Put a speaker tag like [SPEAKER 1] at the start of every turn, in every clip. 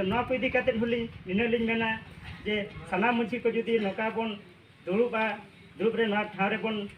[SPEAKER 1] ᱱᱚᱣᱟ ᱠᱚ ᱤᱫᱤ ᱠᱟᱛᱮᱫ ᱦᱚᱸᱞᱤᱧ ᱱᱤᱱᱟᱹᱜ ᱞᱤᱧ ᱢᱮᱱᱟ ᱡᱮ ᱥᱟᱱᱟᱢ ᱢᱟᱺᱡᱷᱤ ᱠᱚ ᱡᱩᱫᱤ ᱱᱚᱝᱠᱟ ᱵᱚᱱ ᱫᱩᱲᱩᱵᱼᱟ ᱫᱩᱲᱩᱵ ᱨᱮ ᱱᱚᱣᱟ ᱴᱷᱟᱶ ᱨᱮᱵᱚᱱ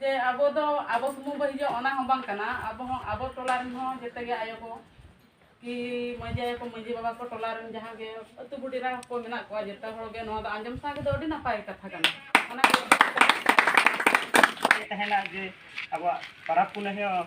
[SPEAKER 2] ᱡᱮ ᱟᱵᱚ ᱫᱚ ᱟᱵᱚ ᱥᱩᱢᱩᱝ ᱵᱚ ᱦᱤᱡᱩᱜᱼᱟ ᱚᱱᱟ ᱦᱚᱸ ᱵᱟᱝ ᱠᱟᱱᱟ ᱟᱵᱚ ᱦᱚᱸ ᱟᱵᱚ ᱴᱚᱞᱟ ᱨᱮᱱ ᱦᱚᱸ ᱡᱮᱛᱮ ᱜᱮ ᱟᱭᱳ ᱠᱚ ᱠᱤ ᱢᱟᱺᱡᱷᱤ ᱟᱭᱳ ᱠᱚ ᱢᱟᱺᱡᱷᱤ ᱵᱟᱵᱟ ᱠᱚ ᱴᱚᱞᱟ ᱨᱮᱱ ᱡᱟᱦᱟᱸ ᱜᱮ ᱟᱹᱛᱩ ᱵᱩᱰᱷᱤ ᱨᱟ ᱠᱚ ᱢᱮᱱᱟᱜ ᱠᱚᱣᱟ ᱡᱮᱛᱮ ᱦᱚᱲ ᱜᱮ ᱱᱚᱣᱟ ᱫᱚ ᱟᱸᱡᱚᱢ ᱥᱟᱶ ᱫᱚ ᱟᱹᱰᱤ ᱱᱟᱯᱟᱭ ᱠᱟᱛᱷᱟ ᱠᱟᱱᱟ ᱚᱱᱟ ᱛᱟᱦᱮᱱᱟ
[SPEAKER 1] ᱡᱮ ᱟᱵᱚᱣᱟᱜ ᱯᱟᱨᱟᱵᱽ ᱯᱩᱱᱟᱹᱭ ᱦᱚᱸ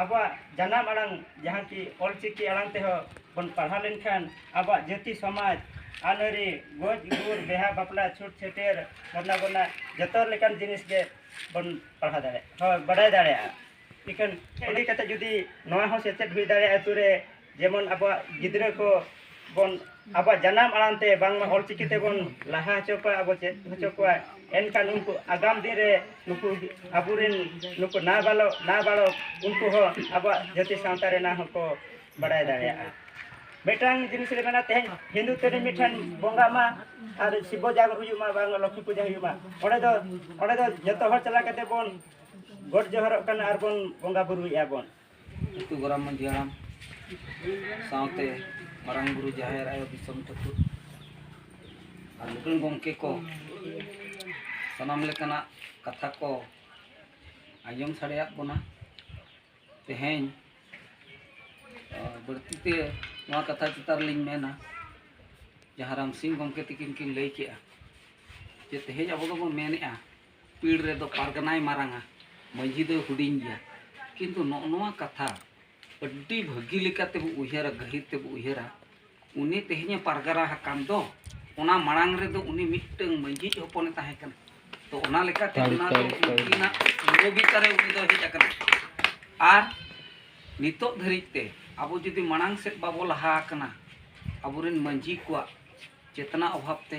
[SPEAKER 1] ᱟᱵᱚᱣᱟᱜ ᱡᱟᱱᱟᱢ ᱟᱲᱟᱝ ᱡᱟᱦᱟᱸ ᱠᱤ ᱚᱞ ᱪᱤᱠᱤ ᱟᱲᱟᱝ ᱛᱮᱦᱚᱸ ᱵᱚᱱ ᱯᱟᱲᱦᱟᱣ ᱞᱮᱱᱠᱷᱟᱱ ᱟᱵᱚᱣᱟᱜ ᱡᱟᱹᱛᱤ ᱥᱚᱢᱟᱡᱽ ᱟᱹᱱ ᱟᱹᱨᱤ ᱜᱚᱡ ᱜᱩᱨ ᱵᱤᱦᱟᱹ ᱵᱟᱯᱞᱟ ᱪᱷᱩᱛ ᱪᱷᱟᱹᱴᱭᱟᱹᱨ ᱵᱚᱸᱫᱟ ᱵᱚᱱᱟ ᱡᱚᱛᱚ ᱞᱮᱠᱟᱱ ᱡᱤᱱᱤᱥ ᱜᱮ ᱵᱚᱱ ᱯᱟᱲᱦᱟᱣ ᱫᱟᱲᱮᱭᱟᱜᱼᱟ ᱦᱳᱭ ᱵᱟᱰᱟᱭ ᱫᱟᱲᱮᱭᱟᱜᱼᱟ ᱤᱠᱷᱟᱹᱱ ᱤᱫᱤ ᱠᱟᱛᱮᱫ ᱡᱩᱫᱤ ᱱᱚᱣᱟ ᱦᱚᱸ ᱥᱮᱪᱮᱫ ᱦᱩᱭ ᱫᱟᱲᱮᱭᱟᱜᱼᱟ ᱟᱹᱛᱩ ᱨᱮ ᱡᱮᱢᱚᱱ ᱟᱵᱚᱣᱟᱜ ᱜᱤᱫᱽᱨᱟᱹ ᱠᱚ ᱵᱚᱱ ᱟᱵᱚᱣᱟᱜ ᱡᱟᱱᱟᱢ ᱟᱲᱟᱝ ᱛᱮ ᱵᱟᱝᱢᱟ ᱚᱞ ᱪᱤᱠᱤ ᱛᱮᱵᱚᱱ ᱞᱟᱦᱟ ᱦᱚᱪᱚ ᱠᱚᱣᱟ ᱟᱵᱚ ᱪᱮᱫ ᱦᱚᱪᱚ ᱠᱚᱣᱟ ᱮᱱᱠᱷᱟᱱ ᱩᱱᱠᱩ ᱟᱜᱟᱢ ᱫᱤᱱ ᱨᱮ ᱱᱩᱠᱩ ᱟᱵᱚᱨᱮᱱ ᱱᱩᱠᱩ ᱱᱟ ᱵᱟᱞᱚ ᱱᱟ ᱵᱟᱲᱚ ᱩᱱᱠᱩ ᱦᱚᱸ ᱟᱵᱚᱣᱟᱜ ᱡᱟᱹᱛᱤ ᱥᱟᱶᱛᱟ ᱨᱮᱱᱟᱜ ᱦᱚᱸᱠᱚ ᱵᱟᱲᱟᱭ ᱫᱟᱲᱮᱭᱟᱜᱼᱟ ᱢᱤᱫᱴᱟᱝ ᱡᱤᱱᱤᱥ ᱞᱮ ᱢᱮᱱᱟ ᱛᱮᱦᱮᱧ ᱦᱤᱱᱫᱩ ᱛᱮᱨᱮ ᱢᱤᱫᱴᱟᱝ ᱵᱚᱸᱜᱟ ᱢᱟ ᱟᱨ ᱥᱤᱵᱚ ᱡᱟᱜᱚᱨ ᱦᱩᱭᱩᱜ ᱢᱟ ᱵᱟᱝ ᱞᱚᱠᱠᱷᱤ ᱯᱩᱡᱟᱹ ᱦᱩᱭᱩᱜ ᱢᱟ ᱚᱸᱰᱮ ᱫᱚ ᱚᱸᱰᱮ ᱫᱚ ᱡᱚᱛᱚ ᱦᱚᱲ ᱪᱟᱞᱟᱣ ᱠᱟᱛᱮ ᱵᱚᱱ ᱜᱚᱰ ᱡᱚᱦᱟᱨᱚᱜ ᱠᱟᱱᱟ ᱟᱨ ᱵᱚᱱ ᱵᱚᱸᱜᱟ ᱵᱩᱨᱩᱭᱮᱫᱼᱟ ᱵᱚᱱ ᱟᱹᱛᱩ ᱜᱚᱨᱟᱢ
[SPEAKER 3] ᱢᱟᱹᱡᱷᱤ ᱦᱟᱲᱟᱢ ᱥᱟᱶᱛᱮ ᱢᱟᱨᱟᱝ ᱵᱩᱨᱩ ᱡᱟᱦᱮᱨ ᱟᱭᱳ ᱫᱤᱥᱚᱢ ᱴᱷᱟᱹᱠᱩᱨ ᱟᱨ ᱢᱩᱠᱩᱞ ᱜᱚᱢᱠᱮ ᱠᱚ ᱥᱟᱱᱟᱢ ᱞᱮᱠᱟᱱᱟᱜ ᱠᱟᱛᱷᱟ ᱠᱚ ᱟᱸᱡᱚᱢ ᱥᱟᱰᱮᱭᱟᱫ ᱵᱚᱱᱟ ᱛᱮᱦᱮᱧ ᱵᱟᱹᱲᱛᱤ ᱛᱮ ᱱᱚᱣᱟ ᱠᱟᱛᱷᱟ ᱪᱮᱛᱟᱱ ᱨᱮᱞᱤᱧ ᱢᱮᱱᱟ ᱡᱟᱦᱟᱸ ᱨᱟᱢᱥᱤᱝ ᱜᱚᱢᱠᱮ ᱛᱤᱠᱤᱱ ᱠᱤᱱ ᱞᱟᱹᱭ ᱠᱮᱜᱼᱟ ᱡᱮ ᱛᱮᱦᱮᱧ ᱟᱵᱚ ᱫᱚᱵᱚᱱ ᱢᱮᱱᱮᱜᱼᱟ ᱯᱤᱲ ᱨᱮᱫᱚ ᱯᱟᱨᱜᱟᱱᱟᱭ ᱢᱟᱨᱟᱝᱟ ᱢᱟᱹᱡᱷᱤ ᱫᱚᱭ ᱦᱩᱰᱤᱧ ᱜᱮᱭᱟ ᱠᱤᱱᱛᱩ ᱱᱚᱜᱼᱚ ᱱᱚᱣᱟ ᱠᱟᱛᱷᱟ ᱟᱹᱰᱤ ᱵᱷᱟᱹᱜᱤ ᱞᱮᱠᱟᱛᱮ ᱵᱚ ᱩᱭᱦᱟᱹᱨᱟ ᱜᱟᱹᱦᱤᱨ ᱛᱮᱵᱚ ᱩᱭᱦᱟᱹᱨᱟ ᱩᱱᱤ ᱛᱮᱦᱮᱧᱮ ᱯᱟᱨᱜᱟᱱᱟ ᱟᱠᱟᱱ ᱫᱚ ᱚᱱᱟ ᱢᱟᱲᱟᱝ ᱨᱮᱫᱚ ᱩᱱᱤ ᱢᱤᱫᱴᱟᱝ ᱢᱟᱹᱡᱷᱤ ᱦᱚᱯᱚᱱᱮ ᱛᱟᱦᱮᱸ ᱠᱟᱱᱟ ᱛᱚ ᱚᱱᱟ ᱞᱮᱠᱟᱛᱮ ᱚᱱᱟ ᱫᱚ ᱩᱱᱠᱤᱱᱟᱜ ᱵᱤᱨᱳᱫᱷᱤᱛᱟ ᱨᱮ ᱩᱱᱤ ᱫᱚ ᱦᱮᱡ ᱟᱠᱟᱱᱟ ᱟᱨ ᱱᱤᱛᱚᱜ ᱫᱷᱟᱹᱨᱤᱡ ᱛᱮ ᱟᱵᱚ ᱡᱩᱫᱤ ᱢᱟᱲᱟᱝ ᱥᱮᱫ ᱵᱟᱵᱚ ᱞᱟᱦᱟ ᱟᱠᱟᱱᱟ ᱟᱵᱚᱨᱮᱱ ᱢᱟᱹᱡᱷᱤ ᱠᱚᱣᱟᱜ ᱪᱮᱛᱱᱟ ᱚᱵᱷᱟᱵ ᱛᱮ